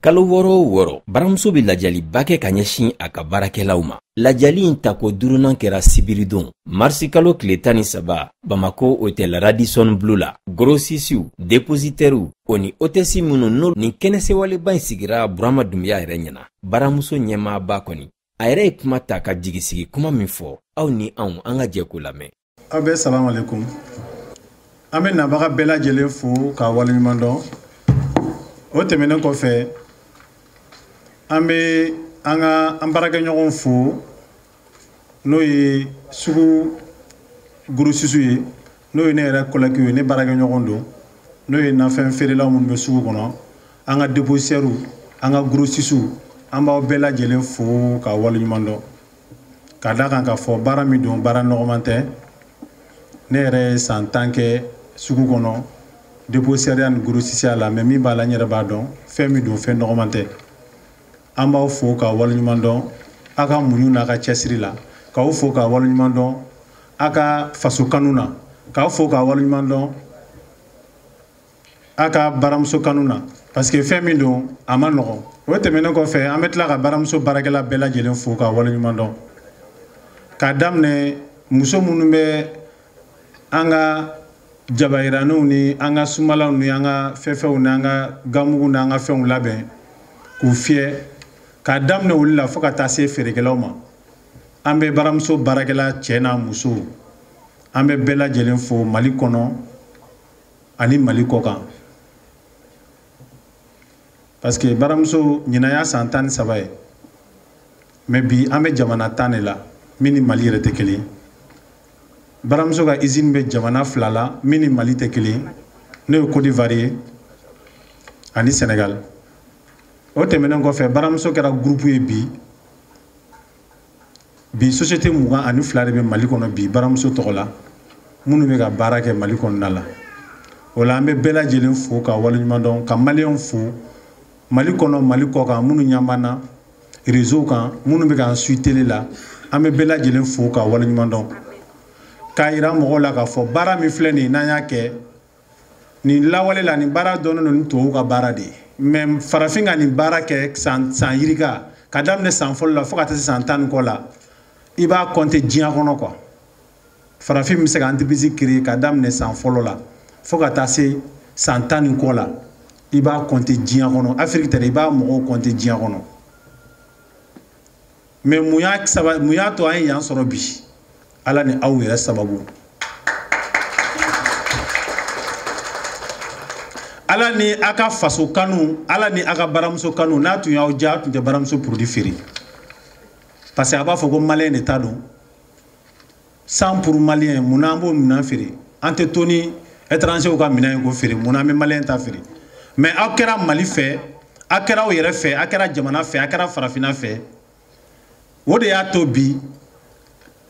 kalo wɔɔrɔ o wɔɔrɔ baramuso bɛ lajaliba kɛ ka ɲɛsin a ka baarakɛlaw ma lajali in tako duurunan kɛra sibiridon marisikalo tile tan ni saba bamako otɛl radisɔn blu la gorosisiw depozitɛriw o ni otɛsi minnu n'o nin kɛnɛsewaleba in sigira burama dunbiya yɛrɛ ɲɛna baramuso ɲɛmaaba kɔni a yɛrɛ ye kuma ta ka jigisigi kuma min fɔ aw ni anw an ka jɛ k'o lamɛn aw bɛɛ salamu alaikum an bɛ nabaga bɛɛ lajɛlen fo k'a waleɲuman dɔn o tɛmɛnen kɔfɛ an bɛ an ka an baarakɛɲɔgɔnw fo n'o ye sugu gorosisiw ye n'o ye ne yɛrɛ kɔlɛkiw ye ne baarakɛɲɔgɔn don n'o ye nafɛn feerelaw minnu bɛ sugu kɔnɔ an ka depozitɛriw an ka gorosisiw an b'aw bɛɛ lajɛlen fo k'a waleɲuman dɔn ka d'a kan k'a fɔ baara min don baara nɔgɔman tɛ ne yɛrɛ ye san tan kɛ sugu kɔnɔ depozitɛriya ni gorosisiya la mɛ min b'a la n yɛrɛ b'a dɔn fɛn min don fɛn nɔgɔman tɛ an b'aw fo k'a waleɲuman dɔn aw ka muɲu n'a ka cɛsiri la k'aw fo k'a waleɲuman dɔn a ka faso kanu na k'a fo k'a waleɲuman dɔn a ka baramuso kanu na parce que fɛn min don a man nɔgɔn o tɛmɛnen kɔfɛ an bɛ tila ka baramuso baarakɛla bɛɛ lajɛlen fo k'a waleɲuman dɔn k'a daminɛ muso minnu bɛ an ka jabayiraniw ni an ka sumalaw ni an ka fɛfɛw ni an ka ganmugu ni an ka fɛnw labɛn k'u fiyɛ k'a daminɛ olu la fo ka taa se feerekɛlaw ma an bɛ baramuso baarakɛla cɛ n'a muso an bɛ bɛɛ lajɛlen fo mali kɔnɔ ani mali kɔ kan parce que baramuso ɲinan y'a san tan ni saba ye mɛ bi an bɛ jamana tan de la min ni mali yɛrɛ tɛ kelen baramuso ka izini bɛ jamana fila la min ni mali tɛ kelen n'o ye kodiwari ye ani sɛnɛgali o tɛmɛnen kɔfɛ baramuso kɛra gurupu ye bi bi société mugan ani fila de bɛ mali kɔnɔ bi baramuso tɔgɔ la minnu bɛ ka baara kɛ mali kɔnɔna la o la an bɛ bɛɛ lajɛlen fo k'a waleɲuman dɔn ka maliyɛnw fo mali kɔnɔ mali kɔ kan minnu ɲɛ b'an na rezo kan minnu bɛ k'an suivi tele la an bɛ bɛɛ lajɛlen fo k'a waleɲuman dɔn k'a yira mɔgɔw la k'a fɔ baara min filɛ nin ye n'an y'a kɛ nin lawale la nin baara dɔnnen don ni tubabu ka baara de ye mɛ farafin ka nin baara kɛ san san yirika k'a daminɛ san fɔlɔ la fo ka taa se san tan ni kɔ la i b'a kɔnte diɲɛ kɔnɔ kuwa farafin bɛ se ka entreprise créer k'a daminɛ san fɔlɔ la fo ka taa se san tan ni kɔ la i b'a kɔnte diɲɛ kɔnɔ afiriki tɛ dɛ i b'a mɔgɔw kɔnte diɲɛ kɔnɔ mɛ mun y'a saba mun y'a to an ye yan sɔrɔ bi ala ni aw yɛrɛ sababu ala ni a ka faso kanu ala ni a ka baramuso kanu n'a tun y'aw diya a tun tɛ baramuso produit feere parce que a b'a fɔ ko maliyɛn de ta don cent pour maliyɛn mun na an b'o minɛn feere an tɛ to ni étrangers ka minɛn ye k'o feere mun na an bɛ maliyɛn ta feere mais aw kɛra mali fɛ aw kɛra aw yɛrɛ fɛ aw kɛra jamana fɛ aw kɛra farafinna fɛ o de y'a to bi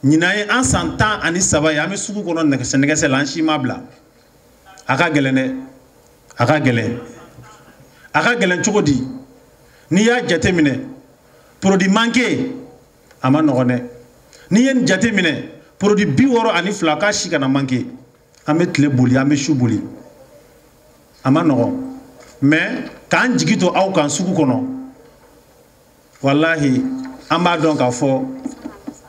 ɲinan ye an san tan ani saba ye an bɛ sugu kɔnɔ nɛgɛsɛ nɛgɛsɛ la an si ma bila a ka gɛlɛn dɛ a ka gɛlɛn a ka gɛlɛn cogo di n'i y'a jateminɛ produit manqué a ma nɔgɔn dɛ n'i ye nin jateminɛ produit bi wɔɔrɔ ani fila k'a si kana manqué an bɛ tile boli an bɛ su boli a ma nɔgɔn mais k'an jigi to aw kan sugu kɔnɔ walahi an b'a dɔn k'a fɔ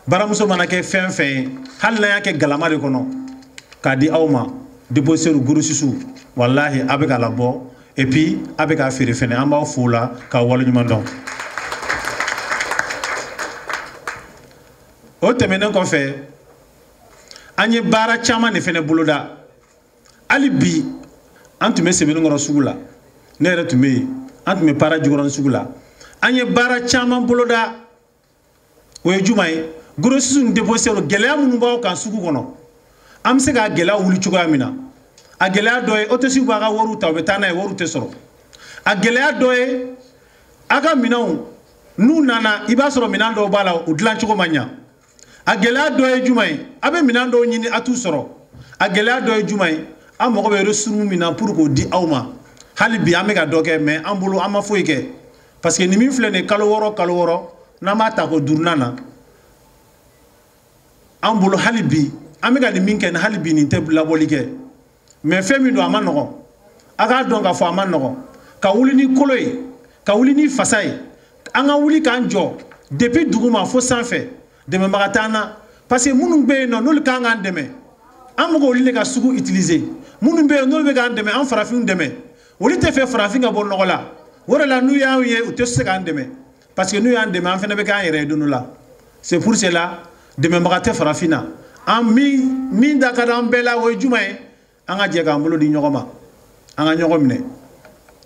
baramuso mana kɛ fɛn fɛn ye hali n'a y'a kɛ galama de kɔnɔ k'a di aw ma dépositaires grossistes walahi a bɛ k'a labɔ et puis a bɛ k'a feere fɛnɛ an b'aw fo o la k'aw waleɲuman dɔn o tɛmɛnen kɔfɛ an ye baara caman de fɛnɛ boloda hali bi an tun bɛ sebenikɔrɔ sugu la ne yɛrɛ tun bɛ yen an tun bɛ para jikɔrɔni sugu la an ye baara caman boloda o ye jumɛn ye grossistes ni dépositaires gɛlɛya minnu b'aw kan sugu kɔnɔ an bɛ se k'a gɛlɛya wuli cogoya min na a gɛlɛya dɔ ye hôtesses b'a ka wariw ta u bɛ taa n'a ye wariw tɛ sɔrɔ a gɛlɛya dɔ ye aw ka minɛnw n'u nana i b'a sɔrɔ minɛn dɔw b'a la u dilan cogo ma ɲa a gɛlɛya dɔ ye jumɛn ye a bɛ minɛn dɔw ɲini a t'u sɔrɔ a gɛlɛya dɔ ye jumɛn ye an mago bɛ ressources min na pour k'o di aw ma hali bi an bɛ ka dɔ kɛ mais an bolo an ma foyi kɛ parce que nin min filɛ nin ye kalo wɔɔrɔ kalo wɔɔrɔ n'an b'a ta ko duurunan na an bolo hali bi an bɛ ka nin min kɛ nin hali bi nin tɛ labɔli kɛ mais fɛn min don a ma nɔgɔn a k'a dɔn k'a fɔ a ma nɔgɔn ka wuli ni kolo ye ka wuli ni fasa ye an ka wuli k'an jɔ depuis duguma fo sanfɛ dɛmɛbaga t'an na parce que minnu bɛ yen nɔ n'olu ka kan k'an dɛmɛ an bɛ k'olu de ka sugu utiliser minnu bɛ yen n'olu bɛ k'an dɛmɛ an farafinw dɛmɛ olu t'a fɛ farafin ka bɔ nɔgɔ la o de la n'u y'an ye u tɛ se k'an dɛmɛ parce que n'u y'an dɛmɛ an fana bɛ k'an yɛrɛ ye don dɔ la c'est pour cela dɛmɛbaga tɛ farafin na an min min da ka di an bɛɛ la o ye jumɛn ye an ka jɛ k'an bolo di ɲɔgɔn ma an ka ɲɔgɔn minɛ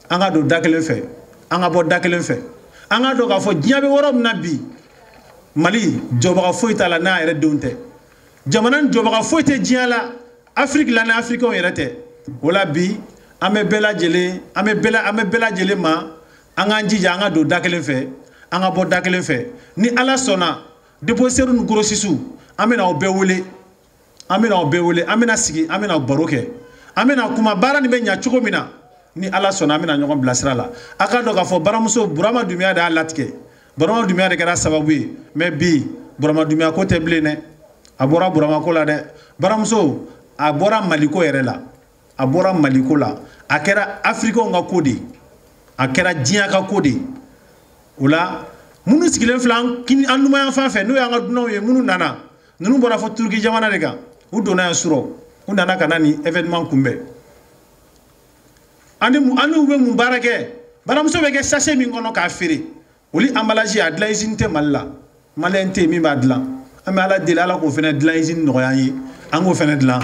an ka don da kelen fɛ an ka bɔ da kelen fɛ an ka dɔn k'a fɔ diɲɛ bɛ yɔrɔ min na bi mali jɔbaga foyi t'a la n'a yɛrɛ denw tɛ jamana jɔbaga foyi tɛ diɲɛ la afiriki la ni afirikiw yɛrɛ tɛ o la bi an bɛ bɛɛ lajɛlen an bɛ bɛɛ an bɛ bɛɛ lajɛlen ma an k'an jija an ka don da kelen fɛ an ka bɔ da kelen fɛ ni ala sɔnna depositɛriw ni gorosisiw an bɛna aw bɛɛ wele an bɛna aw bɛɛ wele an bɛna sigi an bɛna baro kɛ an bɛna kuma baara nin bɛ ɲa cogo min na ni ala sɔnna an bɛna ɲɔgɔn bilasira la a k'a dɔn k'a fɔ baramuso burama dumiya de y'a latigɛ burama dumiya de kɛra sababu ye mɛ bi burama dumiya ko tɛ bilen dɛ a bɔra burama ko la dɛ baramuso a bɔra maliko yɛrɛ la a bɔra maliko la a kɛra afirikɛnw ka ko de a kɛra diɲɛ ka ko de o la minnu sigilen filɛ an numanya fan fɛ n'o y'an ka dunanw ye minnu nana ninnu bɔra fɔ turuki jamana de kan u donna yan surɔ u nana ka na nin événement kunbɛn ani ani u bɛ mun baara kɛ baramuso bɛ kɛ sase min kɔnɔ k'a feere olu emballage a dilan usine tɛ mali la maliyɛn tɛ yen min b'a dilan an bɛ ala deli ala k'o fana dilan usine nɔgɔya an ye an k'o fana dilan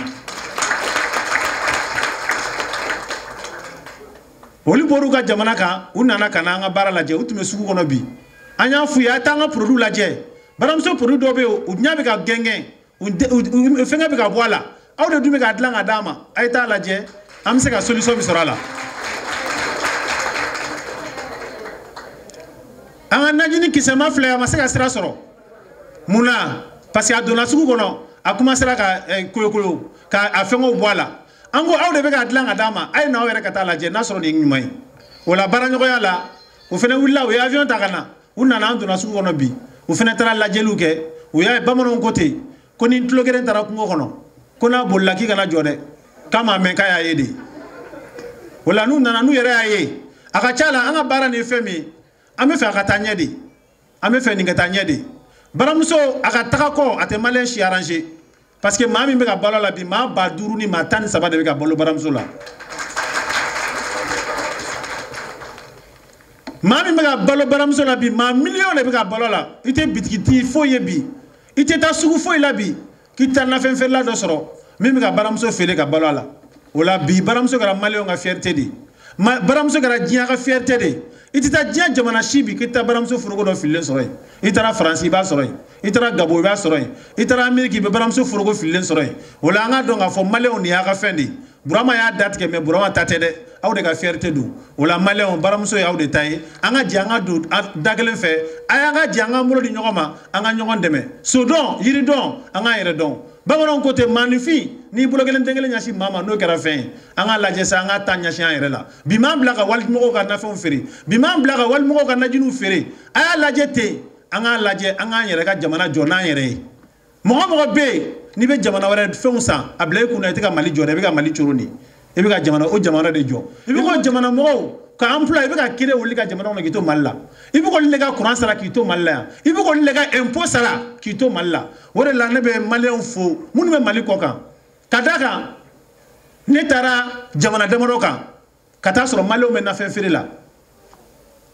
olu bɔr'u ka jamana kan u nana ka na an ka baara lajɛ u tun bɛ sugu kɔnɔ bi an y'a f'u ye a ye taa an ka produit lajɛ baramuso produit dɔw bɛ yen u ɲɛ bɛ ka gɛngɛn fɛngɛ bɛ ka bɔ a la aw de dun bɛ k'a dilan ka d'a ma a ye t'a lajɛ an bɛ se ka solution min sɔrɔ a la an ka najini kisɛma filɛ a ma se ka sira sɔrɔ mun na parce que a donna sugu kɔnɔ a kɔmansera ka eh, koyokolo ka a fɛngɛw bɔ a la an ko aw de bɛ k'a dilan ka d'a ma a ye n'aw yɛrɛ ka t'a lajɛ n'a sɔrɔ nin ye ɲuman ye o la baaraɲɔgɔnya la o fana wulila u ye avion ta ka na u nana an donna sugu kɔnɔ bi u fana taara lajɛliw kɛ u y'a ye bamananw ko ten ko ni tulogeren taara kungo kɔnɔ ko n'a bolila k'i kana jɔ dɛ k'a m'a mɛn k'a y'a ye de o la n'u nana n'u yɛrɛ y'a ye a ka ca la an ka baara nin ye fɛn min an bɛ fɛ a ka taa ɲɛ de an bɛ fɛ nin ka taa ɲɛ de baramuso a ka taga kɔ a tɛ maliyɛn si aranze parce que maa min bɛ ka balo a la bi maa ba duuru ni maa tan ni saba de bɛ ka balo baramuso la maa min bɛ ka balo baramuso la bi maa miliyɔn de bɛ ka balo a la i tɛ bitigitigi foyi ye bi i tɛ taa sugu foyi la bi k'i tɛ nafɛn feerela dɔ sɔrɔ min bɛ ka baramuso feere ka balo a la o la bi baramuso kɛra maliyɛnw ka fiyɛrite de baramuso kɛra diɲɛ ka fiyɛrite de i tɛ taa diɲɛ jamana si bi k'i tɛ baramuso foroko dɔ fililen sɔrɔ yen i taara faransi i b'a sɔrɔ yen i taara gabɔn i b'a sɔrɔ yen i taara ameriki i bɛ baramuso foroko fililen sɔrɔ yen o la an k'a dɔn k'a fɔ maliyɛnw nin y'a ka fɛn de ye burama y'a datigɛ mɛ burama ta tɛ dɛ aw de ka fiyɛrite don o la maliyɛnw baramuso ye aw de ta ye an ka jɛ an ka don da kelen fɛ a y'an ka jɛ an k'an bolo di ɲɔgɔn ma an ka ɲɔgɔn dɛmɛ sodɔn yiridɔn an k'an yɛrɛ dɔn bamananw ko ten maaninfin n'i bolo kelen den kelen ɲɛsin maa ma n'o kɛra fɛn ye an k'a lajɛ sa an k'an ta ɲɛsin an yɛrɛ la bi m'an bila ka walimɔgɔw ka nafɛnw feere bi m'an bila ka walimɔgɔw ka najiniw feere a y'a lajɛ ten an k'a lajɛ an k'an yɛrɛ ka jamana jɔ n'an yɛrɛ ye mɔgɔ mɔgɔ bɛ yen n'i bɛ jamana wɛrɛ fɛnw san a bila i kun na i tɛ ka mali jɔ dɛ i bɛ ka mali coron de i bɛ ka jamana o jamana de jɔ i bɛ k'o jamana mɔgɔw ka emploi i bɛ k'a créer olu ka jamana kɔnɔ k'i to mali la i bɛ k'olu de ka kuran sara k'i to mali la yan i bɛ k'olu de ka ɛnpo sara k'i to mali la o de la ne bɛ maliyɛnw fo minnu bɛ mali kɔ kan ka d'a kan ne taara jamana damadɔ kan ka taa sɔrɔ maliyɛnw bɛ nafɛn feere la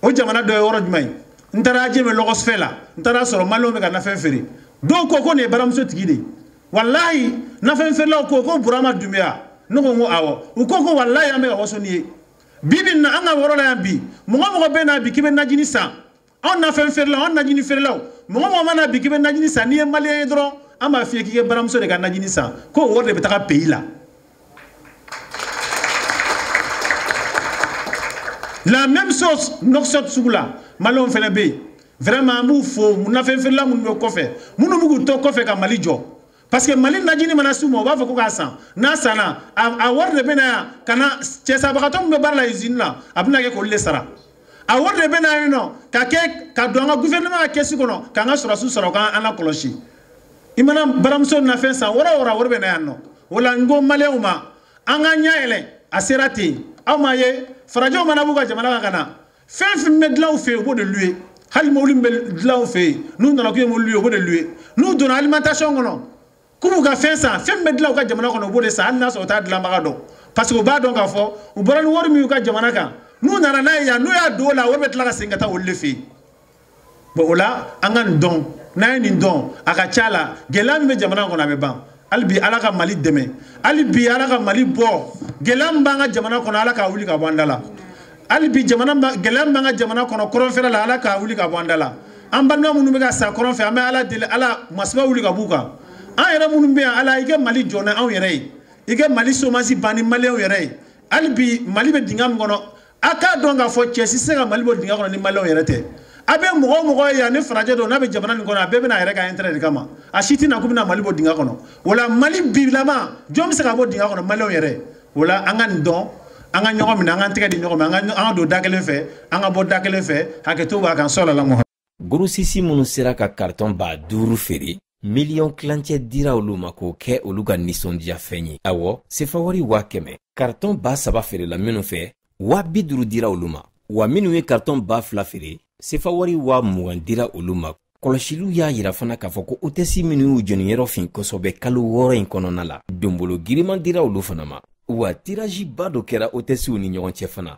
o jamana dɔ ye yɔrɔ jumɛn ye n taara ajame lɔgɔsifɛ la n taara sɔrɔ maliyɛnw bɛ ka nafɛn feere dɔw ko ko nin ye baramuso tigi de ye walayi nafɛn feerelaw ko ko burama dunbiya ne ko n ko awɔ u ko ko walayi an bɛ ka waso n'i ye bi bi in na an ka yɔrɔ la yan bi mɔgɔ mɔgɔ bɛ na bi k'i bɛ najini san anw nafɛn feerelaw anw najini feerelaw mɔgɔ mɔgɔ mana bi k'i bɛ najini san n'i ye maliyɛn ye dɔrɔn an b'a f'i ye k'i kɛ baramuso de ka najini san ko o wari de bɛ taga peyi la la même chose nouakchott sugu la maliyɛnw fana bɛ yen vraiment an b'u fo nafɛn feerela minnu bɛ kɔfɛ minnu bɛ k'u to kɔfɛ ka mali jɔ parce que mali najini mana s'u ma u b'a fɔ ko k'a san n'a sanna a wari de bɛ na yan ka na dɛsɛbagatɔ min bɛ baara la usine la a bɛna kɛ k'olu de sara a wari de bɛ na yan nɔ ka kɛ ka don an ka gouvernement ka kɛsi kɔnɔ k'an ka sɔrɔsiw sara u k'an lakɔlɔsi i mana baramuso nafɛn san yɔrɔ o yɔrɔ wari bɛ na yan nɔ o la n ko maliyɛnw ma an k'an ɲɛ yɛlɛ a sera ten aw m'a ye farajɛw mana b'u ka jamana kan ka na fɛn fɛn bɛ dilan u fɛ yen u b'o de louer hali mobili min bɛ dilan u fɛ yen n'u nana k'u ye mobili louer u b'o de louer n'u donna alimentation kɔnɔ k'u b'u ka fɛn san fɛn min bɛ dilan u ka jamana kɔnɔ u b'o de san hali n'a sɔrɔ u t'a dilanbaga dɔn parce que u b'a dɔn k'a fɔ u bɔra ni wari min y'u ka jamana kan n'u nana n'a ye yan n'u y'a don o la wari bɛ tila ka segin ka taa olu de fɛ yen bon o la an ka nin dɔn n'an ye nin dɔn a ka ca la gɛlɛya min bɛ jamana kɔnɔ a bɛ ban hali bi ala ka mali dɛmɛ hali bi ala ka mali bɔ gɛlɛya min b'an ka jamana kɔnɔ ala k'a wuli ka bɔ an da la hali bi jamana gɛlɛya min b'an ka jamana kɔnɔ kɔrɔnfɛla la ala k'a wuli ka bɔ an da la an balima minnu bɛ ka sa kɔrɔn fɛ an bɛ ala deli ala masiba wuli ka b'u kan an yɛrɛ minnu bɛ yan ala i kɛ mali jɔ ni anw yɛrɛ ye i kɛ mali chômage ban ni maliyɛnw yɛrɛ ye hali bi mali bɛ dingɛ min kɔnɔ a k'a dɔn k'a fɔ cɛ si se ka mali bɔ dingɛ kɔnɔ ni maliyɛnw yɛrɛ tɛ a bɛ mɔgɔ o mɔgɔ ye yan ni farajɛ don n'a bɛ jamana nin kɔnɔ a bɛɛ bɛ na a yɛrɛ ka intérêt de kama a si tɛ na k'u bɛna mali bɔ dingɛ kɔnɔ o la mali bilama jɔn bɛ se ka bɔ dingɛ kɔnɔ maliyɛnw yɛrɛ o la an ka nin dɔn an ka ɲɔgɔn minɛ an ka tɛgɛ di ɲɔgɔn ma an ka don da kelen fɛ an ka bɔ da kelen fɛ hakɛto b'a kan sɔlala gorosisi minnu sera ka karitɔn ba duuru feere miliyɔn tilancɛ dira olu ma k'o kɛ olu ka nisɔndiyafɛn ye awɔ sefawari waa kɛmɛ karitɔn ba saba feerela minnu fɛ waa bi duuru dira olu ma wa minnu ye karitɔn ba fila feere sefawari waa mugan dira olu ma kɔlɔsiliw y'a yira fana k'a fɔ ko otɛsi minnu y'u jɛniyɔrɔ fin kosɔbɛ kalo wɔɔrɔ in kɔnɔna la donbolo giriman dira olu fana ma wa tiraziba dɔ kɛra otɛsiw ni ɲɔgɔn cɛ fana